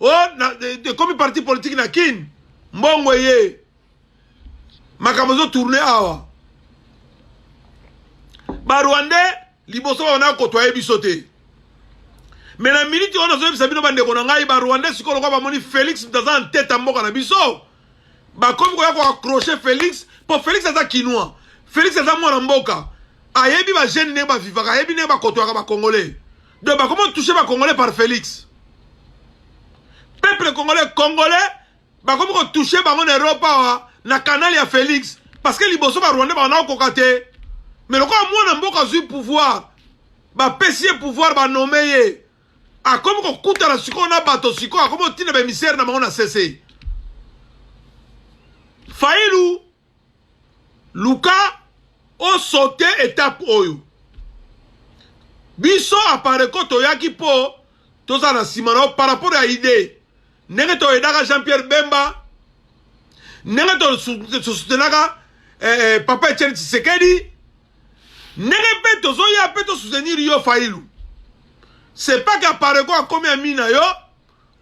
oh, ekomi parti politique na kin mbongo eye makambo ezo tourne awa barwandais liboso baona kotoye biso te me na miniti oyo nazoyebisa bino bandeko na ngai barwandais sikoyo lokola bamoni félix aza na ntete ya mboka na biso bakomi koya koaccroche félix mpo félix aza kinois félix aza mwana mboka ayebi bagene ndenge bavivaka ayebi ndenge bakotoyaka bacongolais donc bakoma touche ba congolais par félix peuple congolais congolais bakomi kotouche bango na eropa awa na kanal ya félix parce que liboso barwandais bango nakokoka te mais lokola mwana mboka azwi pouvoir bapesi ye pouvoir banome ye akomi kokutana sikoyo na bato sikoyo akomi kotinda bamisere na bango na sese failu luka o saute etape oyo biso apareco toyaki mpo toza na nsima na yo par rapport ya idee ndenge toyedaka jean pierre bemba ndenge tosutenaka eh, eh, papa etienne tshisekedi ndenge mpe tozoya mpe tosoutenir yo failu c'est pas qu'apareco akomi ami na yo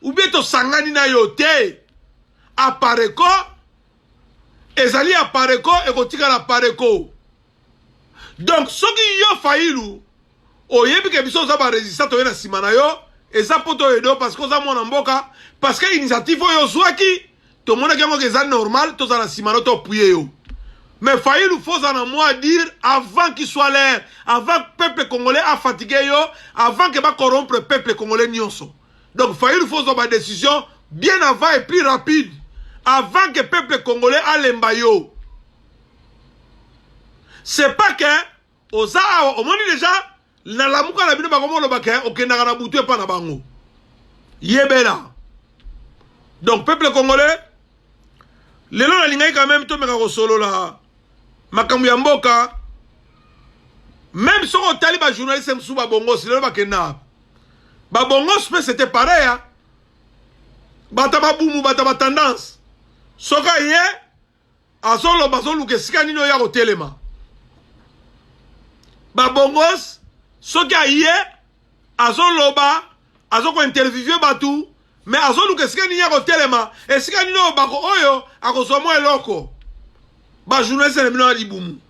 ou bien tosangani na yo te apareco ezali ya pareko ekotikala pareko donc soki yo fayilu oyebi ke biso oza baresista toye na nsima na yo eza mpo toyedo parce que oza mwana mboka parce que initiative oyo ozwaki tomonaki yango ke eza normal toza na nsima no topuye yo mais fayilu foza na mwa dire avant qu'il soit l'air avant peuple congolais afatigue yo avant ke bacorompre peuple congolais nyonso Donc Fayulu faut zwa ba decision bien avant et plus rapide avant que peuple congolais alemba yo. C'est pas que oza awa omoni déjà na lamuka na bino bakomoloba ke okendaka na butu epa na bango. Yebela. Donc peuple congolais lelo nalingaki quand même tomeka kosolola makambo ya mboka meme soki otali bajournaliste mosusu babongosi lelo bakenda ba bongos pe c'était pareil hein? bata babumu bata batendance soki aye azoloba azoluka esika nini oyo ya kotelema babongos soki aye azoloba azokointerviewe bato me azoluka esika nini ya kotelema esika nini oyo bako oyo akozwa mwa eloko bajournaliste na bino ya libumu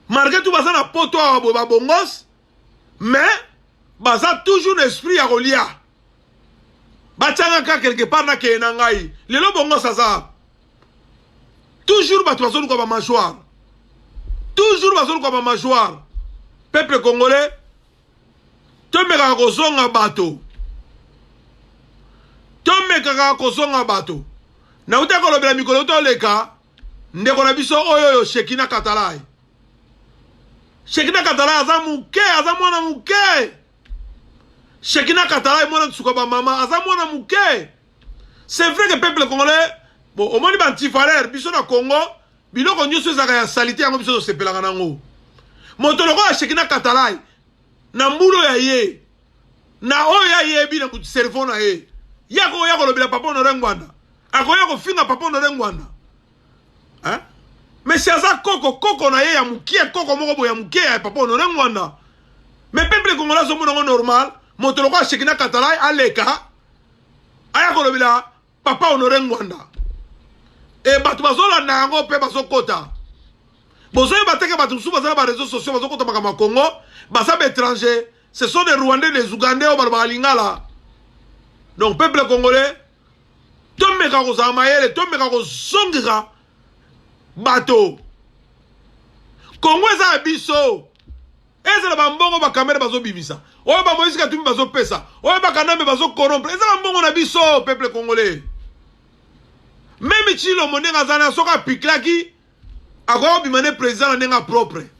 marke tu baza na poto awa boye babongos mais baza toujours na esprit ya kolia batianga kaka quelque part nakeye na ngai lelo bongo saza toujours bato bazoluka bamajoire toujours bazoluka bamajoire peuple congolais tomekaka kozonga bato tomekaka kozonga bato nauta kolobela mikolo toleka ndeko na biso oyo oyo shekina katalai Shekina Katala aza muke, aza mwana muke. Shekina Katala mwana tsuka ba mama, aza mwana muke. C'est vrai que peuple congolais, bon, au moins ba antivaleur, biso na Congo, biloko nyoso ezaka ya salite yango biso tosepelaka nango. Moto lokola Shekina Katala na mbulo ya ye, na oyo ayebi na cerveau na ye, yako yako lobela papa Honore Ngwanda, akoya kofinga papa Honore Ngwanda. hein? mais si aza koko koko na ye ya mukie koko moko boye ya mukie ya papa honore ngwanda mais peuple congolais azomona ngo normal moto lokola shekina katalai aleka aya kolobela papa honore ngwanda e bato bazolanda yango mpe bazokota bozoyeba teke bato mosusu baza na bareseau sociaux bazokota makambo ya congo baza baétranger ce sont des rwandais des ougandais oyo balobaka lingala donc peuple congolais tomeka kozala mayele tomeka kozongisa bato kongo eza ya biso ezala bambongo bakamere bazobimisa oyo bamoïse katumbi bazopesa oyo bakanambe bazokorompre eza bambongo na biso peuple congolais meme chilombo ndenge aza na soki apiklaki akoki kobima nde président na ndenge ya propre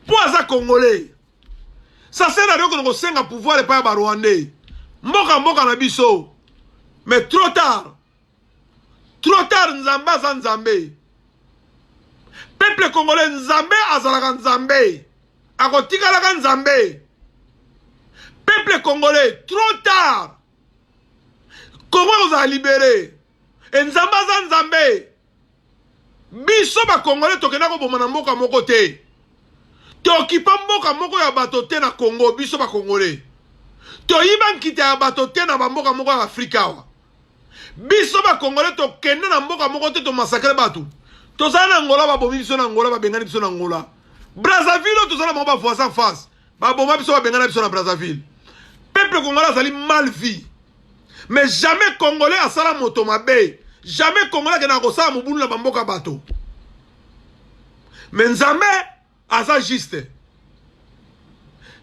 mpo aza congolais Ça sert à rien que kosenga pouvoir epai ya ba Rwandais. Mboka mboka na biso. Mais trop tard. Trop tard Nzambe aza Nzambe. Peuple congolais Nzambe azalaka Nzambe. Akotikalaka Nzambe. Peuple congolais trop tard. Congo ekozala libere. e nzambe aza nzambe biso bakongole tokenda koboma na mboka moko te tokipa mboka moko ya bato te na congo biso bakongole toyiba nkita ya bato te na bamboka moko ya afrika awa biso bakongole tokende na mboka moko te tomasakre bato tozali na ngola babomi biso na ngola babengani biso na ngola brazzaville oyo tozali na bango bavoisin face baboma biso babengana biso na brazzaville peuple congolais azali mal vie mais jamais congolais asala moto mabe jamais congolais akendaka kosala mobulu na bamboka bato mais nzambe aza juste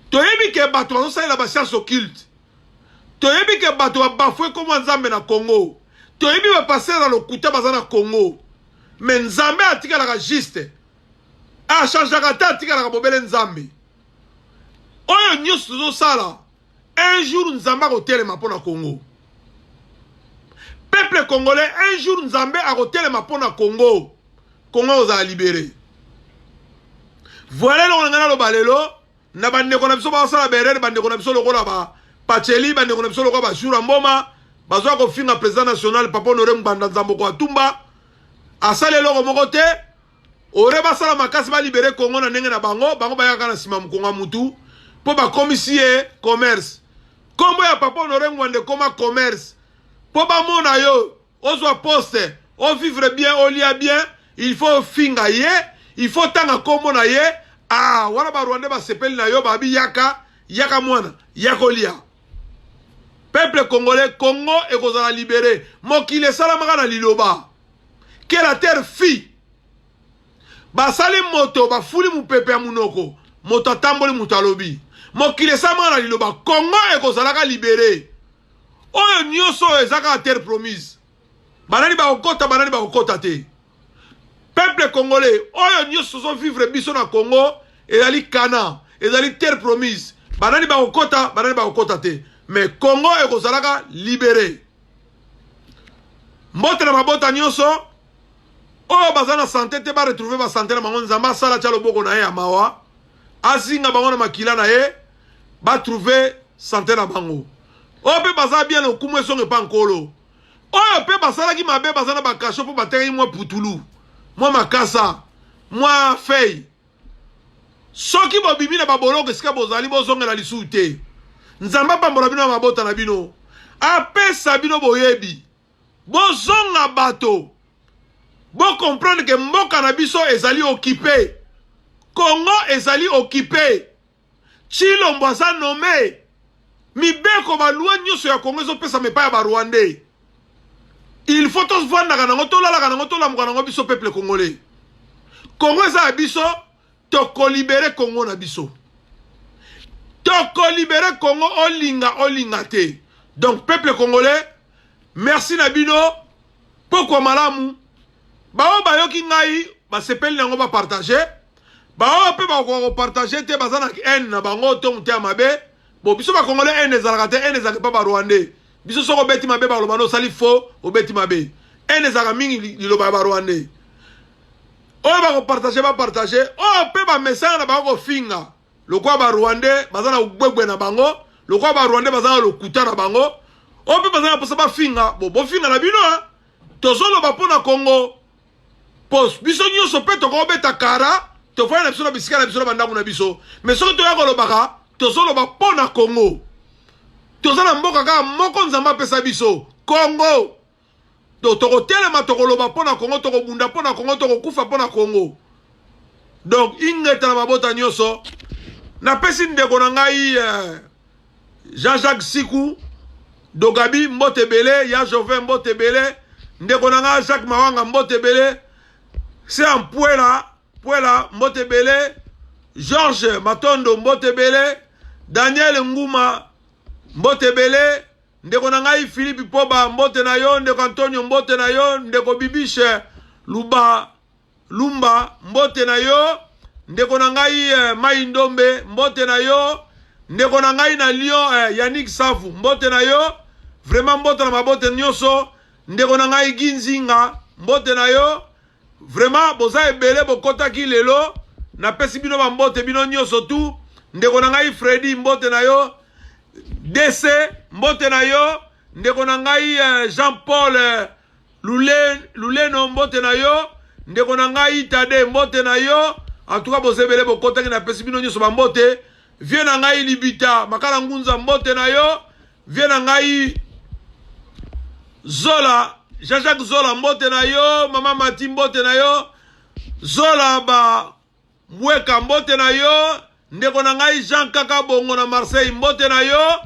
toyebi ke bato bazosalela bascience occulte toyebi ke bato babafue nkombo ya nzambe na congo toyebi bapastere na lokuta baza na congo mais nzambe atikalaka juste achangeaka te atikalaka bobele nzambe oyo nyonso tozosala un jour nzambe akotelema mpo na congo peuple congolais un jour nzambe akotelema mpo na congo congo akozala libere voile elongo na ngai naloba lelo na bandeko na biso basala berere bandeko na biso lokola ba pacheli bandeko na biso lokola bajura mboma bazoya kofinga président national papa honore ngbanda nzambo koatumba asali eloko moko te ore basala makasi ba libere Congo na ndenge na bango bango bayaka na sima mukonga mutu po bakomisi ye commerce kombo ya papa honore ngwande koma commerce po bamona yo ozwa poste o vivre bien olia bien il faut finga ye il faut tanga kombo na ye ah wana ba rwandais basepeli na yo babi yaka yaka mwana yakolia peuple congolais congo ekozala libere mokili esalamaka na liloba quel a terre fille basali moto bafuli mopepe ya monoko moto atamboli moto alobi mokili esamaka na liloba congo ekozalaka libere oyo nyonso oyo eza kaka terre promise banani bakokota banani bakokota te peuple congolais oyo nyonso tozovivre biso na congo ezali kana ezali terre promise banani bakokota banani bakokota te mais congo ekozalaka libere mbote na mabota nyonso oyo baza na sante te baretrouve basante na bango nzambe asala tya loboko na ye ya mawa azinga bango na makila na ye batrouve sante na bango oyo mpe baza bien lokumu esonge mpa nkolo oyo mpe basalaki mabe baza na bakasho mpo batekaki mwa putulu mwa makasa mwa fei Soki bobimi na baboloko esika bozali, bozongela lisusu te. Nzambe apambola bino na mabota na bino, apesa bino boyebi, bozonga bato, bo comprendre que mboka na biso ezali occupe, Congo ezali occupe. Tshilombo aza nomme mibeko ba loi nyoso ya Congo ezopesa mepa ya ba rwandais il faut tovandaka nango tolalaka nango tolamuka nango biso peuple congolais Congo eza ya biso tokolibere Congo na biso tokolibere Congo olinga olinga te donc peuple congolais merci na bino pokwa malamu baoyo bayoki ngai basepeli na yango bapartage baoyo mpe bakokoka kopartage te baza na haine na bango to moteya mabe bo biso bakongole haine ezalaka te haine ezalaka epa barwandais biso soki obeti mabe baloba nde osali faux obeti mabe haine ezalaka mingi liloba ya barwandais oyo bakopartage bapartage oyo mpe bamesana na bango kofinga lokola ba rwandais baza na ugbegbe na bango lokola ba rwandais baza na lokuta na bango oyo mpe baza na mposa bafinga bo bofinga na bino hein. tozoloba mpo na congo mpo biso nyonso mpe tokobeta kara tofai na biso na bisika na biso na bandako na biso mais soki toya kolobaka tozoloba mpo na congo toza na mboka kaka moko nzambe apesa biso congo to tokotelema tokoloba mpo na kongo tokobunda mpo na kongo tokokufa mpo na kongo donc ingeta na mabota nyonso napesi ndeko na ngai eh, jean-jacques siku dogabi mbote ebele ya jovin mbote ebele ndeko na ngai jacques mawanga mbote ebele se ampuela puela mbote ebele george matondo mbote ebele daniel nguma mbote ebele Ndeko na ngai Philippe Poba, mbote na yo. Ndeko Antonio, mbote na yo. Ndeko Bibiche Luba Lumba, mbote na yo. Ndeko na ngai eh, Mai Ndombe, mbote na yo. Ndeko na ngai na Lyon eh, Yannick Safu, mbote na yo. Vraiment mbote na mabote nyonso. Ndeko na ngai Ginzinga, mbote na yo. Vraiment boza ebele bokotaki lelo. Napesi bino ba mbote bino nyonso tu. Ndeko na ngai Freddy, mbote na yo. DC mbote na yo ndeko na ngai euh, Jean Paul euh, Lule, Luleno mbote na yo ndeko na ngai Tade mbote na yo en tout cas bozebele bokotaki na pesi bino nyonso bambote vie na ngai libita makala ngunza mbote na yo vie na ngai zola jean-jacques zola mbote na yo mama mati mbote na yo zola ba Mbweka mbote na yo ndeko na ngai Jean kaka bongo na Marseille mbote na yo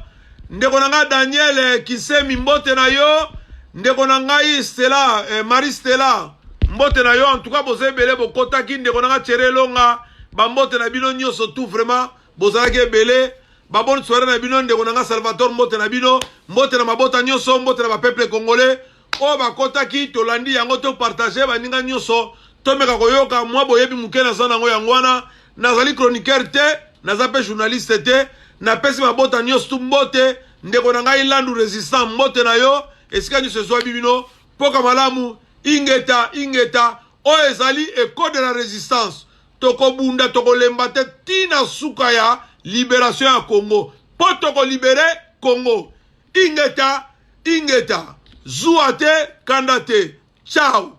ndeko na ngai Daniel Kisemi mbote na yo ndeko na ngai Stella eh, Marie Stella mbote na yo en tout cas boza ebele bokotaki ndeko na ngai Chere Elonga bambote na bino nyonso tout vraiment bozalaki ebele baboni soirée na bino ndeko na ngai Salvatore mbote na bino mbote na mabota nyonso mbote na ba peuple congolais oyo bakotaki tolandi yango to partage baninga nyonso tomeka koyoka mwa boyebi moke naza nango yango wana nazali chroniqueur te naza mpe journaliste te napesi mabota nyonso tu mbote ndeko na ngai landu resistant mbote na yo esika nyonso ezwabi bino mpoka malamu ingeta ingeta oyo ezali eco de la resistance tokobunda tokolemba te ntina suka ya liberation ya congo mpo tokolibere congo Ingeta ingeta zuwa te kanda te ciao.